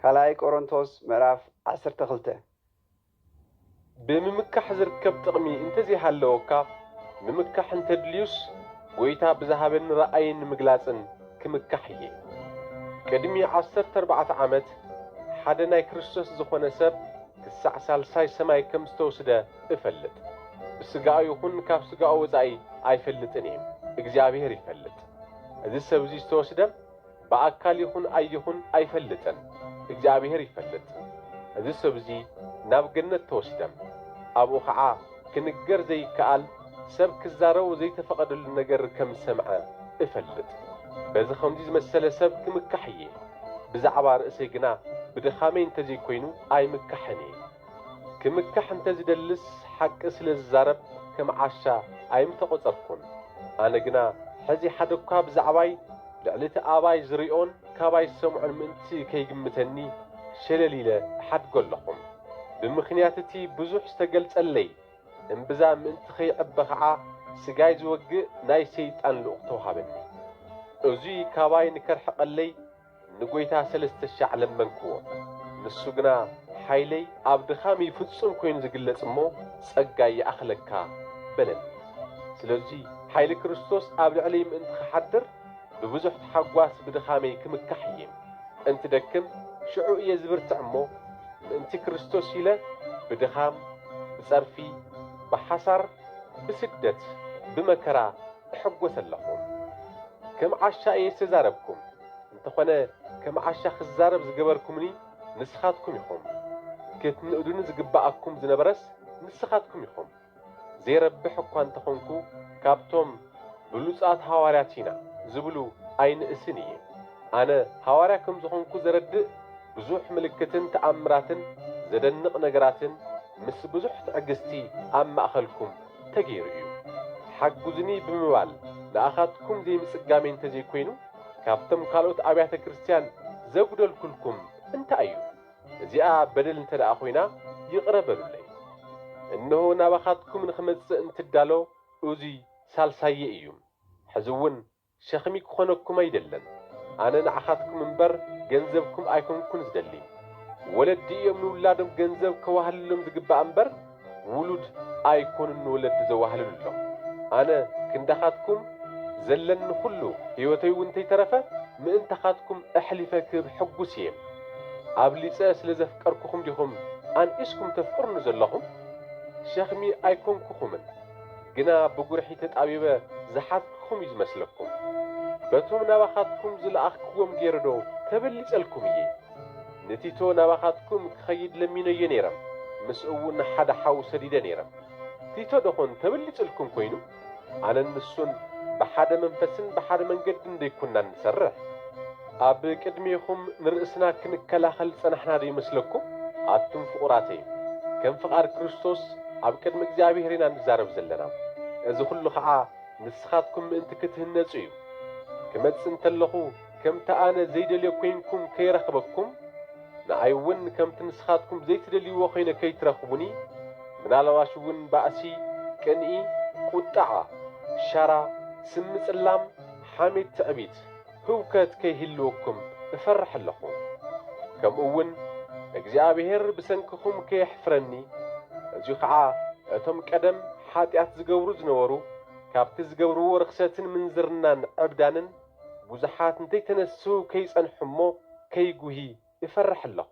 ካልኣይ ቆሮንቶስ ምዕራፍ ዓሰርተ ክልተ። ብምምካሕ ዝርከብ ጥቕሚ እንተዘይሃለወካ፣ ምምካሕ እንተድልዩስ ጐይታ ብዝሃበኒ ራእይን ንምግላጽን ክምካሕ እየ። ቅድሚ ዓሰርተ ኣርባዕተ ዓመት ሓደ ናይ ክርስቶስ ዝኾነ ሰብ ክሳዕ ሳልሳይ ሰማይ ከም ዝተውስደ እፈልጥ። ብስጋኡ ይኹን ካብ ስጋኡ ወጻኢ ኣይፈልጥን እየ፣ እግዚኣብሄር ይፈልጥ። እዚ ሰብዚ ዝተወስደ፣ ብኣካል ይኹን ኣይኹን ኣይፈልጥን እግዚኣብሔር ይፈልጥ እዚ ሰብዚ ናብ ገነት ተወሲደም ኣብኡ ኸዓ ክንገር ዘይከኣል ሰብ ክዛረቦ ዘይተፈቐደሉ ነገር ከምዝሰምዐ እፈልጥ በዚ ኸምዚ ዝመሰለ ሰብ ክምካሕ እየ ብዛዕባ ርእሰይ ግና ብድኻመይ እንተዘይኮይኑ ኣይምካሕን እየ ክምካሕ እንተ ዝደልስ ሓቂ ስለ ዝዛረብ ከም ዓሻ ኣይምተቆጸርኩን። ኣነ ግና ሕዚ ሓደኳ ብዛዕባይ ልዕሊ እቲ ኣባይ ዝሪኦን ካባይ ዝሰምዖን ምእንቲ ከይግምተኒ ሸለል ኢለ እሓድጎ ኣለኹ። ብምኽንያት እቲ ብዙሕ ዝተገልጸለይ እምብዛ ምእንቲ ከይዕበ ከኣ ስጋይ ዝወግእ ናይ ሰይጣን ልኡኽ ተውሃበኒ። እዙይ ካባይ ንከርሕቀለይ ንጐይታ ሰለስተ ሻዕ ለመንክዎ፣ ንሱ ግና፣ ሓይለይ ኣብ ድኻም እዩ ፍጹም ኰይኑ ዚግለጽ እሞ፣ ጸጋይ ይኣኽለካ በለኒ። ስለዙይ ሓይሊ ክርስቶስ ኣብ ልዕለይ ምእንቲ ኺሓድር፣ ብብዙኅ ተሓጓስ ብድኻመይ ክምካሕ እየ። እንትደክም ሽዑ እየ ዝብርትዕ እሞ፣ ምእንቲ ክርስቶስ ኢለ ብድኻም፣ ብጸርፊ፣ ብሓሳር፣ ብስደት፣ ብመከራ፣ እሕጎስ ኣለኹ ከም ዓሻ እየ ዝተዛረብኩም እንተኾነ ከም ዓሻ ክዛረብ ዝገበርኩምኒ ንስኻትኩም ኢኹም ክትንእዱኒ ዝግበኣኩም ዝነበረስ ንስኻትኩም ኢኹም ዘይረብሕ እኳ እንተኾንኩ ካብቶም ብሉጻት ሃዋርያት ኢና ዝብሉ ኣይንእስን እየ ኣነ ሃዋርያ ከም ዝኾንኩ ዘረድእ ብዙሕ ምልክትን ተኣምራትን ዘደንቕ ነገራትን ምስ ብዙሕ ትዕግስቲ ኣብ ማእኸልኩም ተገይሩ እዩ። ሓግዙኒ ብምባል ንኣኻትኩም ዘይምፅጋመይ እንተዘይኮይኑ ካብቶም ካልኦት ኣብያተ ክርስቲያን ዘጉደልኩልኩም እንታይ እዩ? እዚኣ በደል እንተድኣ ኮይና ይቕረ በሉለይ። እንሆ ናባኻትኩም ንኽመፅእ እንትዳሎ እዙይ ሳልሳየይ እዩ። ሕዚ እውን ሸኽሚ ክኾነኩም ኣይደለን ኣነ ንዓኻትኩም እምበር ገንዘብኩም ኣይኮንኩን ዝደሊ። ወለዲ እዮም ንውላዶም ገንዘብ ከዋህልሎም ዝግባእ እምበር ውሉድ ኣይኮኑን ንወለዲ ዘዋህልሉሎም። ኣነ ክንዳኻትኩም ዘለኒ ኩሉ ህይወተይ እውን እንተይተረፈ ምእንታኻትኩም ኣሕሊፈ ክህብ ሕጉስ እየ። ኣብሊፀ ስለ ዘፍቀርኩኹም ዲኹም ኣንኢስኩም ተፍቅሩኒ ዘለኹም? ሸኽሚ ኣይኮንኩኹምን። ግና ብጉርሒ ተጣቢበ ዝሓትክኹም እዩ ዝመስለኩም። በቶም ናባኻትኩም ዝለኣኽክዎም ገይረዶ ተበሊጸልኩም እየ። ንቲቶ ናባኻትኩም ክኸይድ ለሚነዮ ነይረ፣ ምስኡውን ሓደ ሓው ሰዲደ ነይረ። ቲቶ ደኾን ተበሊጽልኩም ኮይኑ? ኣነን ንሱን ብሓደ መንፈስን ብሓደ መንገድን ደይኩንና እንሰርሕ? ኣብ ቅድሜኹም ንርእስና ክንከላኸል ዝጸናሕና ዶ ይመስለኩም? ኣቱም ፍቑራተይ፣ ከም ፍቓድ ክርስቶስ ኣብ ቅድሚ እግዚኣብሔር ኢና ንዛረብ ዘለና። እዚ ኹሉ ኸዓ ንስኻትኩም ምእንቲ ክትህነጹ እዩ። ክመጽእ እንተለኹ ከምቲ ኣነ ዘይደልዮ ኮይንኩም ከይረኽበኩም፣ ንኣይውን ከምቲ ንስኻትኩም ዘይትደልይዎ ኮይነ ከይትረኽቡኒ፣ ምናልባሽውን ባእሲ፣ ቅንኢ፣ ቁጥዓ፣ ሻራ፣ ስም ምጽላም፣ ሓሜት፣ ትዕቢት፣ ህውከት ከይህልወኩም እፈርሕ ኣለኹ፣ ከምኡውን እግዚኣብሄር ብሰንክኹም ከየሕፍረኒ፣ በዙይ ኸዓ እቶም ቀደም ሓጢኣት ዝገብሩ ዝነበሩ ካብቲ ዝገብርዎ ርኽሰትን ምንዝርናን ዕብዳንን ብዙሓት እንተይተነስሁ ከይጸንሑ እሞ ከይጉሂ እፈርሕ ኣለኹ።